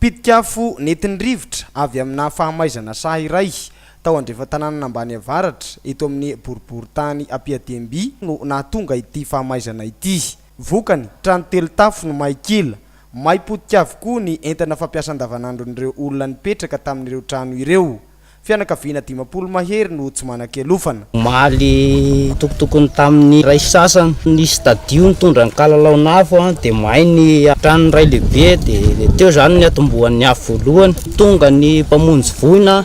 Mpitika afo nentin'ny rivotra avy amina fahamaizana saha iray tao Andrefantananan'Ambany Avaratra, eto amin'ny boriborintany Ampiadiemby no nahatonga ity fahamaizana ity. Vokany, trano telo tafo no may kila. May potika avokoa ny entana fampiasa andavanandron'ireo olona nipetraka tamin'ireo trano ireo. Fianakaviana dimampolo mahery no tsy manan-kialofana. Omaly, tokotokony tamin'ny iray sasany, ny stadio nitondra ny kalalaon'afo dia may ny tranon'ny ray lehibe dia teo izany ny atombohan'ny afo voalohany. Tonga ny mpamonjy voina,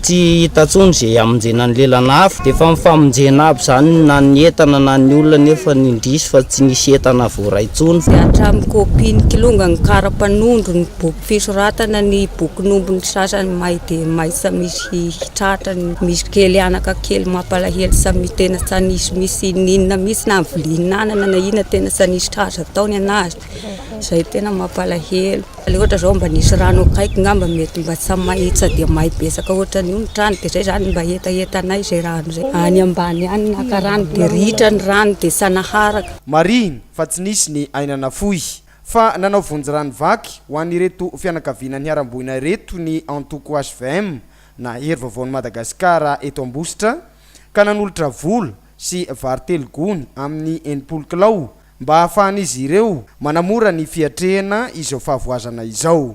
tsy hita intsony izay hamonjena ny lelan'afo. Dia efa nifamonjena aby izany na ny entana na ny olona nefa ny indrisy fa tsy nisy entana voaray intsony. Dia hatramin'ny kaopin'ny kilongan'ny kara mpanondro ny Boky fisoratana ny bokin'ombiny sasany may dia may sa misy hitratra ny misy kely anaka kely mampalahelo sa misy tena sa nisy misy inona misy na vilianana na inona tena sa nisy tratra ataony anazy izay tena mampalahelo le ohatra zao mba nisy rano akaiky ngamba mety mba sa may sa dia may betsaka ohatran'io ny trano dia zay zany mba hetahetanay zay rano zay any ambany any naka rano dia ritra ny rano dia sa naharaka. Marihina fa tsy nisy ny aina nafoy Fa nanao vonjy rano vaky ho an'ireto fianakaviana niharam-boina ireto ny antoko hvm na Hery Vaovaon'i Madagasikara eto Ambositra ka nanolotra vola sy vary telo gony amin'ny enimpolo kilao mba hahafahan'izy ireo manamora ny fiatrehana izao fahavoazana izao.